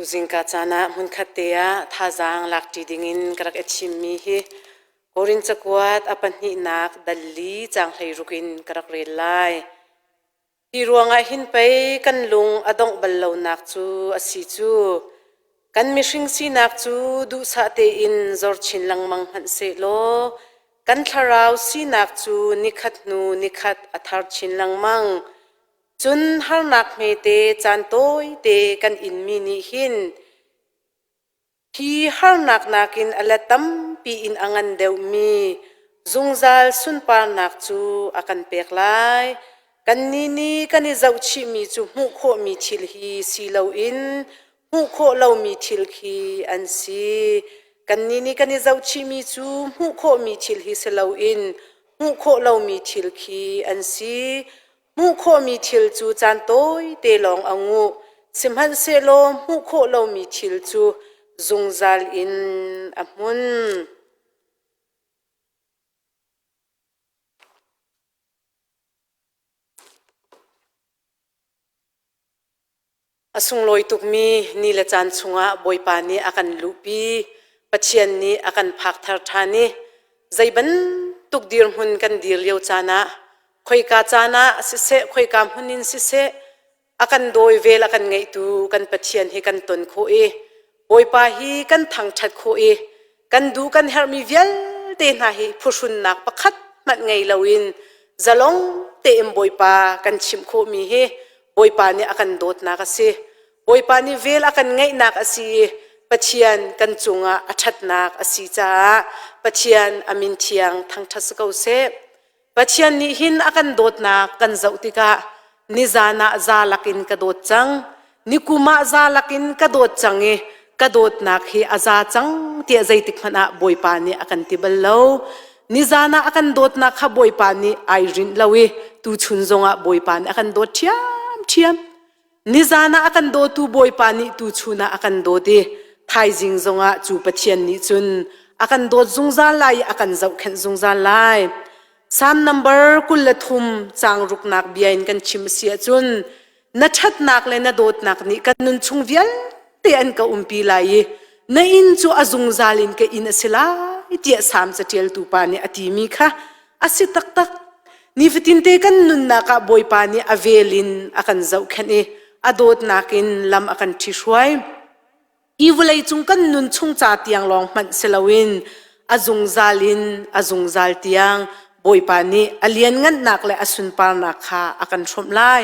Zingka caan ah hmunkhat te ah thazaang lakṭi dingin ka rak i thimmi hi Korin cakuat a pahnihnak dal li caang hleiruk in ka rak rel lai. Hi ruangah hin pei kan lung a dongh bal lonak cu a si cu, kan mihring sinak cu duhsah tein zor chin lengmang hmanh sehlaw, kan thlarau sinak cu nikhat hnu nikhat a thar chin lengmang. Cun harnak hmete caan tawite kan inmi nih hin hi harnak nakin a la tampi in a ngan deuhmi zungzal sunparnak cu a kan pek lai. Kannih nih kan i zohchihmi cu hmuh khawhmi thil hi si loin hmuh khawh lomi thil khi an si. Kannih nih kan i zohchihmi cu hmuh khawhmi thil hi si loin hmuh khawh lomi thil khi an si. Hmuh khawhmi thil cu caan tawite lawng a nguh, sihmanhsehlaw hmuh khawh lomi thil cu zungzal in a hmun. A sunglawi tukmi ni le caan chungah Bawipa nih a kan luhpi, Pathian nih a kan phakthar ṭhan i zei bantuk dirhmun kan dir lio caan ah, khoika caan ah siseh, khoika hmun in siseh, a kan dawi vel a kan ngaihtu kan Pathian hi kan ton khawh i Bawipa hi kan thangṭhat khawh i kan duh kan herhmi vialte hna hi phuhrunnak pakhat hmanh ngei loin zalong tein Bawipa kan chimh khawhmi hi Bawipa nih a kan dawtnak a si. Bawipa nih vel a kan ngeihnak a si i Pathian kan cungah a ṭhatnak a si caah Pathian a min thiang thangṭhat si ko seh. Pathian nih hin a kan dawtnak kan zoh tikah nizan ah za lakin ka dawt cang. Nikum ah za lakin ka dawt cang i ka dawtnak hi a za cang tiah zeitik hmanh ah Bawipa nih a kan ti bal lo. Nizan ah a kan dawtnak kha Bawipa nih ai rinh lo i tuchun zongah Bawipa nih a kan dawt ṭhiamṭhiam. Nizan ah a kan dawtu Bawipa nih tuchun ah a kan dawt i thaizing zongah cu Pathian nih cun a kan dawt zungzal lai i a kan zohkhenh zungzal lai. Salm number kul le thum caang ruknak bia in kan chim a si ahcun na ṭhatnak le na dawtnak nih kan nunchung vialte an ka umpi lai i na inn cu a zungzal in ka inn a si lai tiah Salm caṭialtu pa nih a timi kha a si taktak nifatinte kan nunnak ah bawipa nih a vel in a kan zohkhenh i a dawtnak in lam a kan ṭhi hruai hi vawlei cung kan nun chung ca tiang lawng hmanh si loin a zungzal in a zungzal tiang bawipa nih a lianngannak le a sunparnak kha a kan hromh lai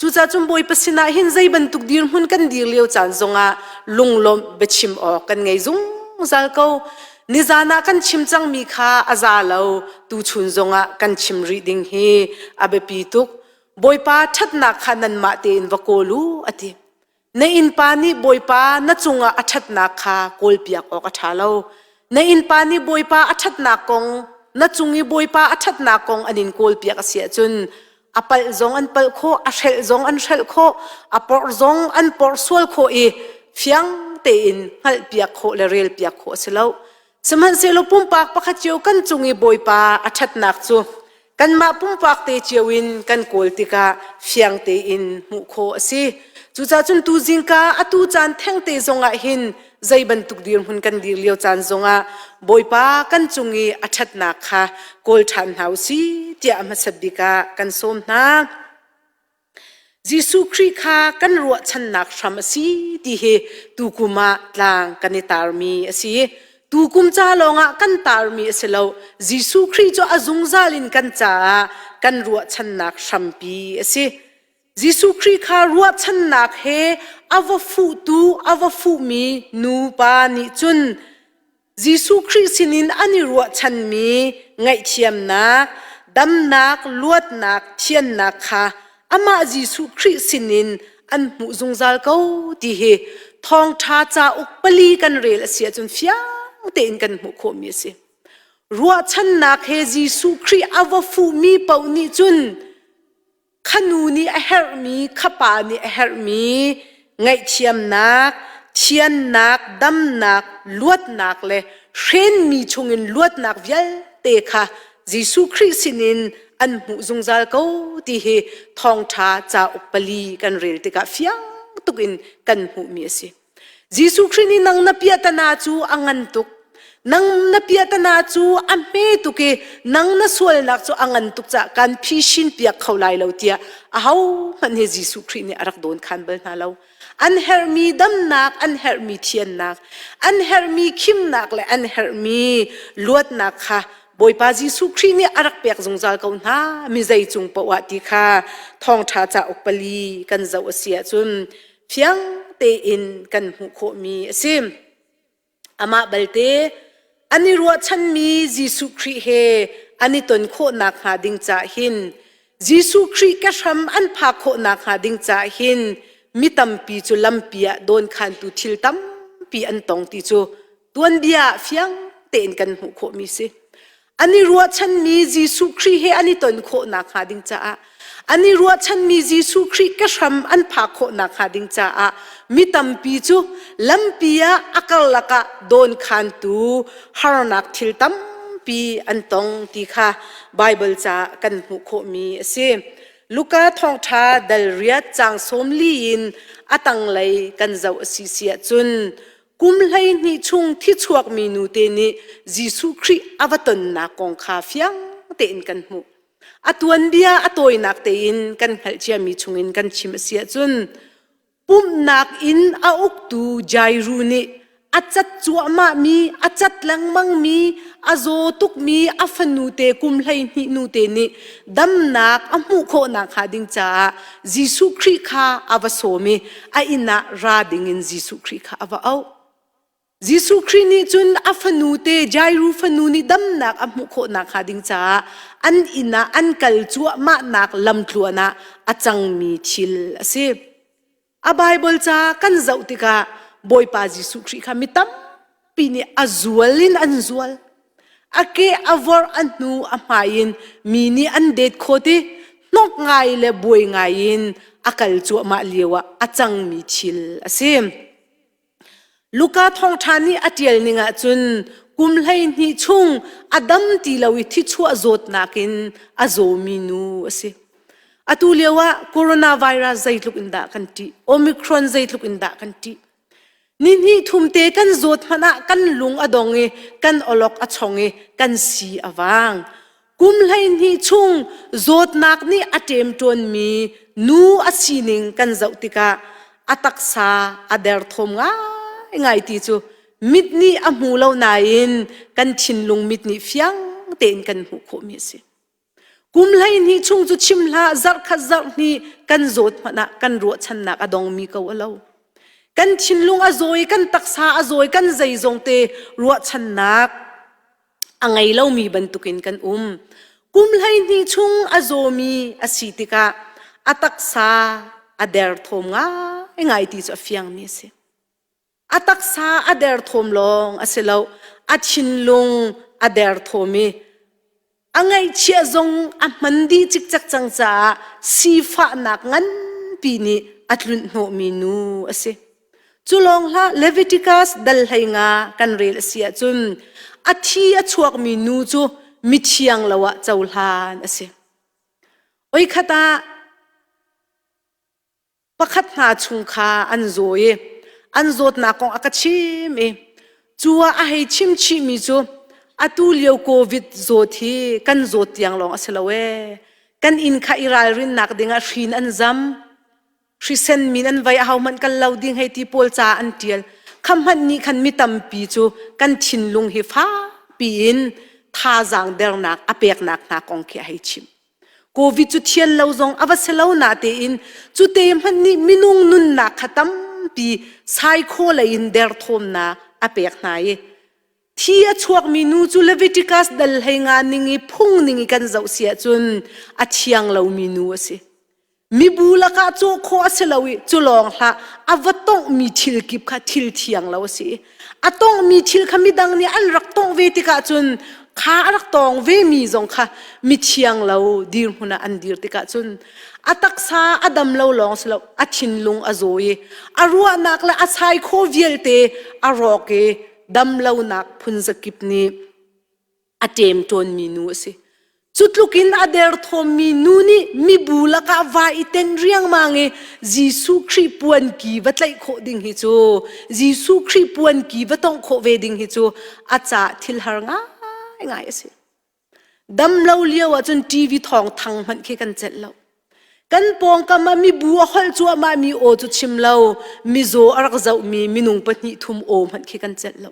Cucacun Bawipa sinah hin zei bantuk dirhmun kan dir lio caan zongah lunglawmh biachim awk kan ngei zungzal ko. Nizan ah kan chim cangmi kha a za lo, tuchun zongah kan chim rih ding hi a biapi tuk. Bawipa ṭhatnak kha nanmah tein va kawl u, a ti. Na innpa nih Bawipa na cungah a ṭhatnak kha kawlpiak awk a ṭha lo. Na innpa nih Bawipa a ṭhatnak kong na cung i Bawipa a ṭhatnak kong an in kawlpiak a si ahcun a palh zong an palh khawh, a hrelh zong an hrelh khawh, a porh zong an porh sual khawh i fiang tein hngalhpiak khawh le relpiak khawh a si lo. Sihmanhsehlaw pumpak pakhat cio kan cung i Bawipa a ṭhatnak cu kanmah pumpak te cio in kan kawl tikah fiang tein hmuh khawh a si. Cucaah cun tu zingka atu caan thengte zongah hin zei bantuk dirhmun kan dir lio caan zongah Bawipa kan cung i a ṭhatnak kha kawl ṭhan hna u si tiah hmasat bik ah kan sawm hna. Jesuh Khrih kha kan ruahchannak hram a si ti hi tukum ah tlang kan i tarmi a si. Tukum ca lawngah kan tarmi a si lo. Jesuh Khrih cu a zungzal in kan caah kan ruahchannak hrampi a si. Jesuh Khrih kha ruahchannak he a va fuhtu, a va fuhmi nupa nih cun Jesuh Khrih sinin an i ruahchanmi ngaihthiamnak, damnak, luatnak, thiannak kha amah Jesuh Khrih sinin an hmuh zungzal ko ti hi thawngṭha cauk pali kan rel a si ahcun fiang tein kan hmuh khawhmi a si. Ruahchannak he Jesuh Khrih a va fuhmi paoh nih cun khanu nih a herhmi khapa nih a herhmi ngaihthiamnak thiannak damnak luatnak le hrenmi chungin luatnak vialte kha Jesuh Khrih sinin an hmuh zungzal ko ti hi thawngṭha cauk pali kan rel tikah fiang tukin kan hmuhmi a si. Jesuh Khrih nih nang na piahtana cu a ngan tuk. Nang na piahtana cu a hme tuk i nang na sualnak cu a ngan tuk caah kan phishin piak kho lai lo tiah ahohmanh hi Jesuh Khrih nih a rak dawnkhan bal hna lo. An herhmi damnak, an herhmi thiannak, an herhmi khimnak le an herhmi luatnak kha Bawipa Jesuh Khrih nih a rak pek zungzal ko hna mi zei cung paoh ah ti kha thawngṭha cauk pali kan zoh a si ahcun fiang tein kan hmuh khawhmi a si. Amah balte an i ruahchanmi Jesuh Khrih he an i ton khawhnak hnga ding cah hin Jesuh Khrih ke hram an phak khawhnak hnga ding cah hin mi tampi cu lampi ah dawnkhantu thil tampi an tong ti cu tuanbia fiang tein kan hmuh khawhmi si an i ruahchanmi Jesuh Khrih he an i ton khawh nakhnga ding caah an i ruahchanmi Jesuh Khrih ke hram an phak khawh nakhnga ding caah mi tampi cu lampi ah a karlak ah dawnkhantu harnak thil tampi an tong ti kha Baibal caah kan hmuh khawhmi a si. Luka thawngṭha dal riat caang sawm li in a tanglei kan zoh a si si ahcun Kum hleihnih chung thi chuakmi nute nih Jesuh Khrih a va tonnak kong kha fiang tein kan hmuh. A tuanbia a tawinak tein kan hngalh ciami chungin kan chim a si ahcun pumhnak in a uktu Jairu nih a cat cuahmahmi, a cat lengmangmi, a zaw tukmi a fanute kum hleihnih nute nih damnak a hmuh khawh nakhnga ding caah Jesuh Khrih kha a va sawm i a inn ah ra dingin Jesuh Khrih kha a va auh. Jesuh Khrih nih cun a fanu te Jairu fanu nih damnak a hmuh khawh nakhnga ding caah an inn ah an kal cuahmahnak lamtluan ah a cangmi thil a si. A Baibal ca kan zoh tikah Bawipa Jesuh Khrih kha mi tampi pi nih a zual in an zual a ke a vor a hnu a hmai in mi nih an det khawt i hnok ngai le buai ngai in a kal cuahmah lio ah a cangmi thil a si luka thawngṭha nih a ṭial ning ah cun kum hleihnih chung a dam ti lo i thichuah zawtnak in a zawmi nu a si atu lio ah coronavirus zeitluk in dah kan ṭih omicron zeitluk in dah kan ṭih Nihnih thumte kan zawt hmanh ah kan lung a dong i kan awlok a chong i kan si a vang. Kum hleihnih chung zawtnak nih a ṭemṭuanmi nu a sining kan zoh tikah a taksa a derthawm ngaingai ti cu mit nih a hmu lo nain kan thinlung mit nih fiang tein kan hmuh khawhmi a si. Kum hleihnih chung cu chim hlah zarh khat zarh hnih kan zawt hmanh ah kan ruahchannak a dongmi ko a lo. Kan thinlung a zawi, kan taksa a zawi, kan zeizong te ruahchannak a ngei lomi bantukin kan um. Kum hleihnih chung a zawmi a si tikah a taksa a derthawm ngaingai ti cu a fiangmi a si. A taksa a derthawm lawng a si lo, a thinlung a derthawm i a ngaihchiah zong a hman dih cikcek cang caah sifahnak nganpi nih a tlunh hnawhmi nu a si. Cu lawng hlah Leviticus dal hlei nga kan rel a si ahcun a thi a chuakmi nu cu mithiang lo ah cohlan a si. Oi khat ah pakhat hna chung kha an zaw i an zawtnak kong a ka chim i cu ah a hei chim chihmi cu atu lio covid zawt hi kan zawt tiang lawng a si lo ee kan inn kha i ralrinnak dingah hrin an zam hrisen min an vai a ho hmanh kal lo ding hei ti pawl ca an tial khamhmanh nih khan mi tampi cu kan thinlung hi fakpi in thazaang dernak a peknak hna kong khi a hei chim Covid cu thial lo zong a va si lo natein cute hmanh nih minung nunnak kha tampi saikhaw lei in derthawmnak a pek hna i thi a chuakmi nu cu Leviticus dal hlei nga ning i phung ning i kan zoh si ahcun a thiang lomi nu a si. Mibu lakah cawhkhawh a si lo i cu lawng hlah a va tonghmi thil kip kha thil thiang lo a si i a tonghmi thil kha midang nih an rak tongh ve tikah cun kha a rak tong vemi zong kha mithiang lo dirhmun ah an dir tikah cun a taksa a dam lo lawng si lo a thinlung a zaw i a ruahnak le a sai khaw vialte a rawk i damlonak phunzakip nih a ṭem ṭawnmi nu a si. Cutluk in a derthawmmi nu nih mibu lakah va i ten riangmang i Jesuh Khrih puanki va tlaih khawh ding hi cu Jesuh Khrih puanki va tongh khawh ve ding hi cu a ca thil har ngaingai a si. Dam lo lio ahcun TV thawng thang hmanh khi kan celh lo. Kan pawngkam ah mibu a holh cuahmah mi aw cu chim lo, mizaw a rak zohmi minung pahnih thum aw hmanh khi kan celh lo.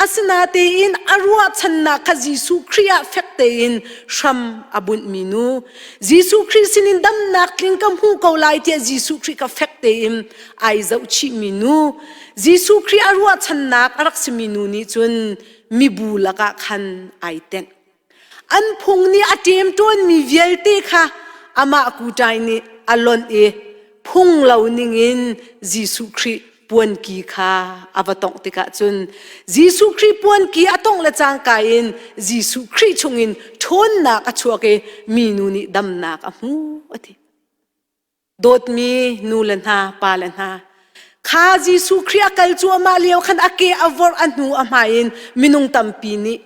Asinatein a ruahchannak kha Jesuh Khrih ah fek tein hram a bunhmi nu Jesuh Khrih sinin damnak tling ka hmu ko lai tiah Jesuh Khrih ka fek tein ai zohchihmi nu Jesuh Khrih a ruahchannak a rak simi nu nih cun mibu lakah khan ai tenh. An phung nih a ṭemṭawnmi vialte kha amah kutai nih a lonh i phung lo ningin Jesuh Khrih puanki kha a va tongh tikah cun Jesuh Khrih puanki a tongh le cangka in Jesuh Khrih chungin ṭhawnnak a chuak i minu nih damnak a hmu a ti. dawtmi nu le hna pa le hna kha Jesuh Khrih a kal cuahmah lio khan a ke a vorh a hnu a hmai in minung tampi nih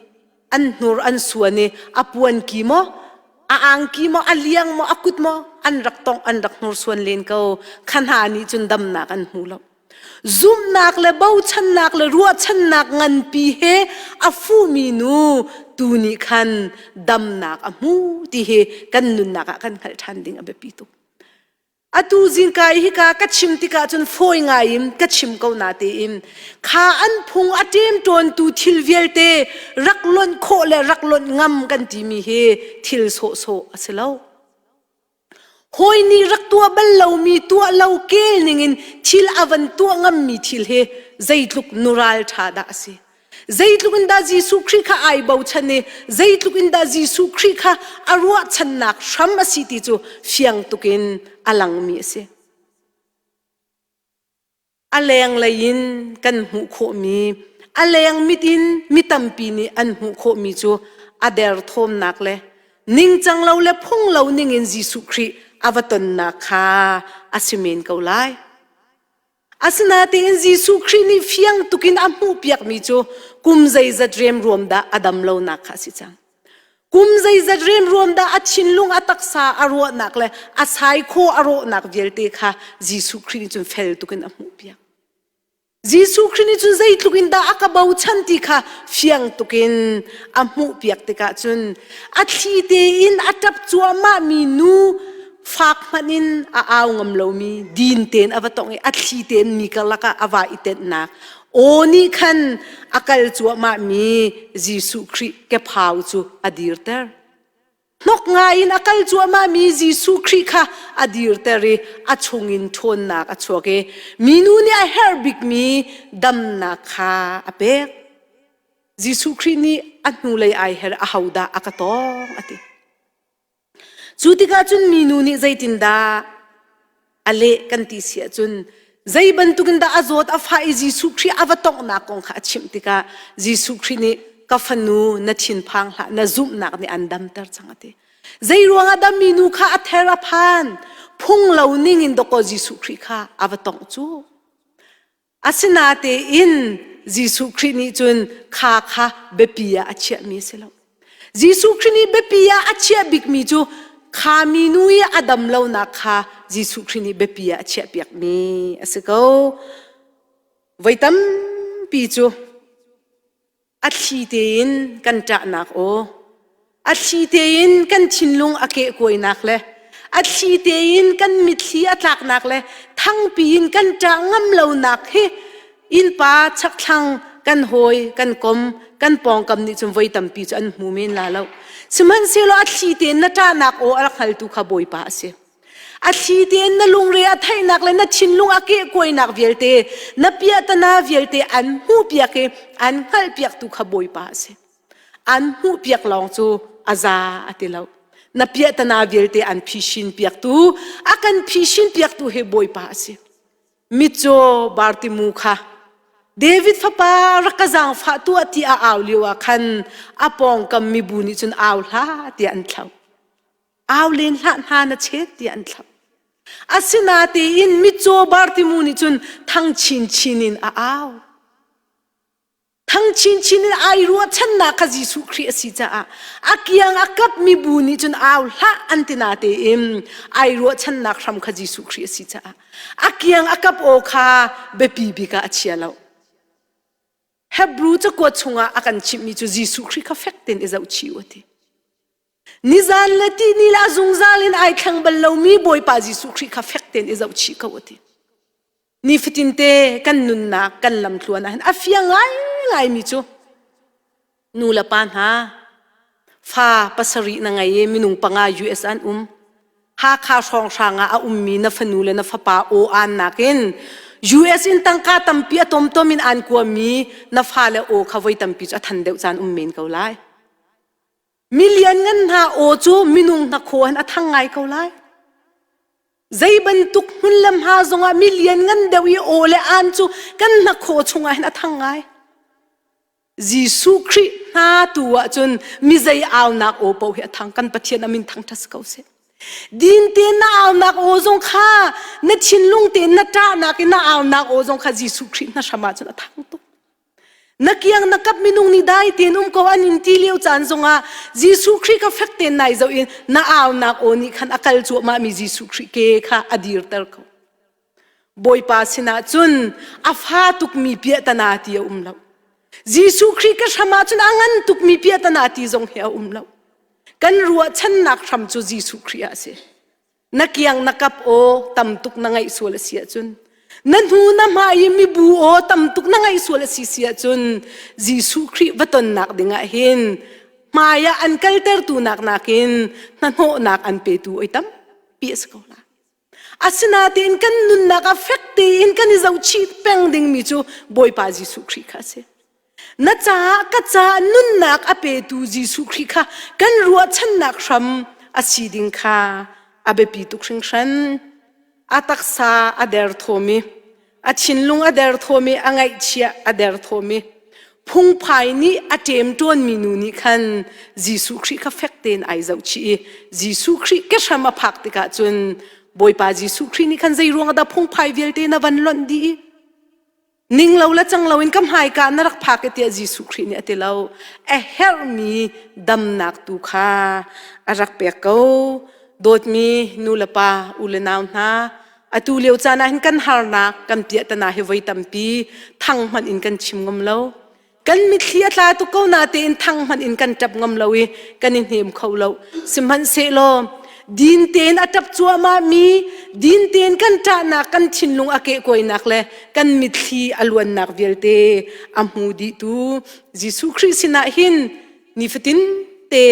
an hnur an suan i a puan ki maw a angki maw a liang maw a kut maw an rak tongh an rak hnursuan len ko kha hna nih cun damnak an hmu lo zumnak le bochannak le ruahchannak nganpi he a fumi nu tu nih khan damnak a hmu ti hi kan nunnak ah kan hngalh ṭhan ding a biapi tuk atu zingka i hika ka chim tikah cun fawi ngai in ka chim ko na tein kha an phung a ṭem ṭawntu thil vialte rak lonh khawh le rak lonh ngam kan timi hi thil sawhsawh a si lo Hawi nih rak tuah bal lomi tuah lo kel ningin thil a van tuah ngammi thil hi zeitluk nural ṭha dah a si! Zeitluk in dah Jesuh Khrih kha ai bochan i zeitluk in dah Jesuh Khrih kha a ruahchannak hram a si ti cu fiang tukin a langmi a si. A lenglei in kan hmuh khawhmi, a leng mit in mi tampi nih an hmuh khawhmi cu a derthawmnak le ningcang lo le phung lo ning in Jesuh Khrih a va tonnak kha a si men ko lai. Asinain Jesuh Khrih nih fiang tukin a hmuhpiakmi cu kum zeizat riamruam dah a dam lonak kha a si cang. Kum zeizat rianruam dah a thinlung, a taksa a ruahnak le a saikho a rawhnak vialte kha Jesuh Khrih nih cun fel tuk in a hmuhpiak. Jesuh Khrih nih cun zeitluk in dah a ka bochan ti kha fiang tuk in a hmuhpiak tikah cun a thli tein a ṭap cuahmah mi nu fak hmanh in a au ngam lomi din tein a va tong i a thli tein mi karlak ah a va i tenhnak aw nih khan a kal cuahmah mi Jesuh Khrih kephau cu a dirter hnok ngaiin a kal cuahmah mi Jesuh Khrih kha a dirter i a chungin ṭhawnnak a chuak i minu nih a herh bik mi damnak kha a pek Jesuh Khrih nih a hnulei ai her ahodah a ka tawng a ti Cu tikah cun minu nih zeitindah a leh kan ti si ahcun zei bantukin dah a zawt a fah i Jesuh Khrih a va tonghnak kong kha a chimh tikah Jesuh Khrih nih ka fanu na thinphang hlah na zumhnak nih an damter cang a ti. Zei ruangah dah minu kha a ther a phan? Phung lo ning in dawkaw Jesuh Khrih kha a va tongh cu. Asinatein Jesuh Khrih nih cun kha kha biapi ah a chiahmi a si lo. Jesuh Khrih nih biapi ah a chiah bikmi cu kha minu i a dam lonak kha Jesuh Khrih nih biapi ah a chiahpiakmi a si ko. Voi tampi cu a thli tein kan ṭahnak aw, a thli tein kan thinlung a kehkuainak le a thli tein kan mitthli a tlaknak le thangpi in kan ṭah ngam lonak hi innpa chakthlang kan hawi kan kom kan pawngkam nih cun voi tampi cu an hmu men la lo sihmanhsehlaw a thli tein na ṭahnak aw a rak hngaltu kha bawipa a si A thli tein na lungre a theihnak le na thinlung a kehkuainak vialte, na piahtana vialte an hmuhpiak i an hngalhpiak tu kha Bawipa a si. An hmuhpiak lawng cu a za a ti lo. Na piahtana vialte an phishin piaktu, a kan phishin piaktu hi Bawipa a si. Mitcaw Bartimu kha David fapa rak ka zaangfah tu a ti a au lio ah khan a pawngkam mibu nih cun au hla tiah an thlo. au len hlah hna na chet tiah an thlap asinatein mitcaw bartimu nih cun thang chinchin in a au thang chinchin in ai ruahchannak kha Jesuh Khrih a si caah a kiang a kap mi bu nih cun au hlah an ti natein ai ruahchannak hram kha Jesuh Khrih a si caah a kiang a kap aw kha biapi bik ah a chia lo Hebrew cakuat chungah a kan chimh mi cu Jesuh Khrih kha fek tein i zohchih u a ti Nizan le ti ni la zungzal in ai thleng bal lomi Bawipa Jesuh Khrih kha fek tein i zohchih ko a ti. Nifatin te kan nunnak kan lamtluan ahhin a fia ngaingai mi cu nu le pa hna fa pasarih na ngei i minung panga US an um Hakha hrawnghrang ah a ummi na fanu le na fapa aw aan nakin US in tangka tampi a tomtom in aan kuammi na fale aw kha voi tampi cu a than deuh caan um men ko lai. Mi lianngan hna aw cu minung hnakhaw an a thang ngai ko lai. Zei bantuk hmun le hma zongah mi lianngan deuh i aw le an cu kan hnakhaw chungah hin a thang ngai. Jesuh Khrih hna tu ah cun mi zei aunak aw paoh hi a thang kan Pathian amin thang ṭhas ko seh. Din tein na aunak aw zong kha na thinlung tein na ṭahnak in na aunak aw zong kha Jesuh Khrih hna hramah cun a thang tuk. na kiang na kap minung ni dai tein um ko an in ti lio caan zongah Jesuh Khrih kha fek tein nai zoh in na aunak aw nih khan a kal cuahmah mi Jesuh Khrih ke kha a dirter ko Bawipa sinah cun a fa tukmi piahtana ti a um lo Jesuh Khrih ka hram ah cun a ngan tukmi piahtana ti zong hi a um lo kan ruahchannak hram cu Jesuh Khrih a si na kiang na kap aw tam tuk na ngaih sual a si ahcun na hnu na hma i mibu aw tam tuk na ngaih sual a si si ahcun Jesuh Khrih va tonnak dingah hin hmaiah an kaltertu nak nakin hnahnawhnak an petu oi tam pi a si ko la asinain kan nunnak a fek tein kan i zohchih peng dingmi cu Bawipa Jesuh Khrih kha a si Na caah ka caah nunnak a petu Jesuh Khrih kha kan ruahchannak hram a si ding kha a biapi tuk hringhran. A taksa a derthawmi, a thinlung a derthawmi, a ngaihchia a derthawmi, phungphai nih a ṭemṭuanmi nu nih khan Jesuh Khrih kha fek tein ai zohchih i Jesuh Khrih kehram a phak tikah cun Bawipa Jesuh Khrih nih khan zei ruangah dah phungphai vialte na van lonh dih i ning lo le cang loin ka hmaika na rak phak i tiah Jesuh Khrih nih a ti lo a herhmi damnak tu kha a rak pek ko dawtmi nu le pa u le nau hna atu lio caan ah hin kan harnak kan piahtana hi voi tampi thang hmanh in kan chim ngam lo kan mitthli a tla tuk ko na tein thang hman in kan tap ngam lo i kan i hnem kho lo sihmanhsehlaw din tein a tap cuahmah mi din tein kan ṭahnak kan thinlung a kehkuainak le kan mitthli a luannak vialte a hmu dihtu Jesuh Khrih sinah hin nifatin te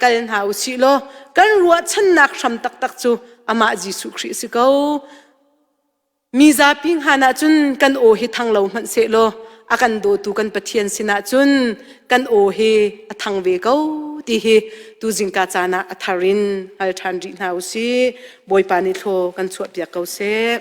kal hna u sih law kan ruahchannak hram taktak cu amah Jesuh Khrih si ko Mi zapi hngan ahcun kan aw hi thang lo hmanh sehlaw a kan dawtu kan Pathian sinah cun kan aw hi a thang ve ko ti hi tuzing ka caan ah a thar in hal ṭhan rih hna u si. Bawipa nih thlaw kan chuahpiak ko seh.